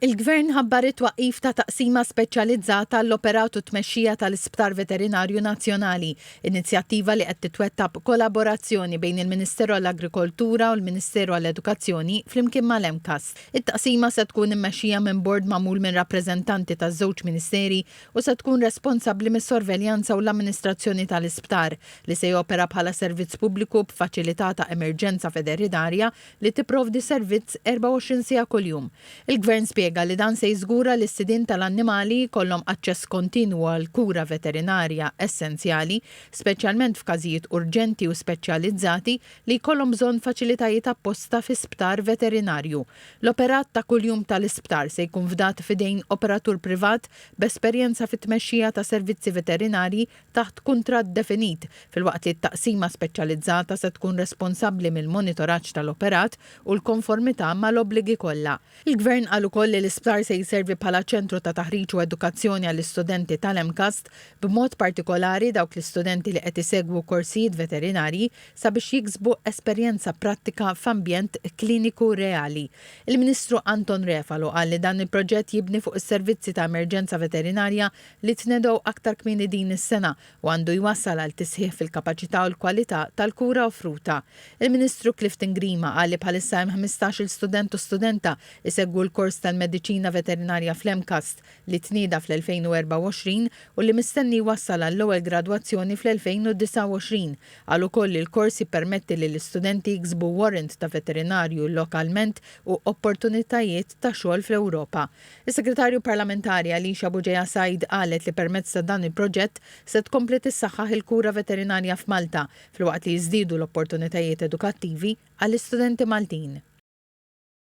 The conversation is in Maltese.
Il-Gvern ħabbar it-twaqqif ta' taqsima speċjalizzata għall-operat u t-tmexxija tal-Isptar Veterinarju Nazzjonali, inizjattiva li qed titwettaq b'kolaborazzjoni bejn il-Ministeru għall-Agrikoltura u l-Ministeru għall-Edukazzjoni flimkien mal-MCAST. It-taqsima se tkun immexxija minn bord magħmul minn rappreżentanti taż-żewġ Ministeri u se tkun responsabbli mis-sorveljanza u l-amministrazzjoni tal-isptar, li se jopera bħala servizz pubbliku b'faċilità ta' emerġenza veterinarja, li tipprovdi servizz 24 siegħa kuljum. Il-Gvern spjega li dan se jiżgura li s-sidien tal-annimali jkollhom aċċess kontinwu għall-kura veterinarja essenzjali, speċjalment f'każijiet urġenti u speċjalizzati li jkollhom bżonn faċilitajiet apposta fi sptar veterinarju. L-operat ta' kuljum tal-isptar se jkun fdat f'idejn operatur privat b'esperjenza fit-tmexxija ta' servizzi veterinarji taħt kuntratt definit, filwaqt li t-taqsima speċjalizzata se tkun responsabbli mill-monitoraġġ tal-operat u l-konformità mal-obbligi kollha. Il-Gvern qal ukoll li l-isptar se jservi bħala ċentru ta' taħriġ u edukazzjoni għall-istudenti tal-MCAST, b'mod partikolari dawk l-istudenti li qed isegwu korsijiet veterinarji, sabiex jiksbu esperjenza prattika f'ambjent kliniku reali. Il-Ministru Anton Refalo qal li dan il-proġett jibni fuq is-servizzi ta' emerġenza veterinarja li tnedgħu aktar kmieni din is-sena u għandu jwassal għal tisħiħ fil-kapaċità u l-kwalità tal-kura offruta. Il-Ministru Clifton Grima qal li bħalissa hemm ħmistax-il student u studenta jsegwu l-kors tal-Mediċina Veterinarja fl-MCAST li tnieda fl-2024 u li mistenni jwassal għall-ewwel gradwazzjoni fl-2029. Qal ukoll li l-kors jippermetti lill-istudenti jiksbu warrant ta' veterinarju lokalment u opportunitajiet ta' xogħol fl-Ewropa. Is-Segretarju Parlamentari Alicia Bugeja Said qalet li permezz ta' dan il-proġett se tkompli tissaħħaħ il-kura veterinarja f'Malta filwaqt li jiżdiedu l-opportunitajiet edukattivi għall-istudenti Maltin.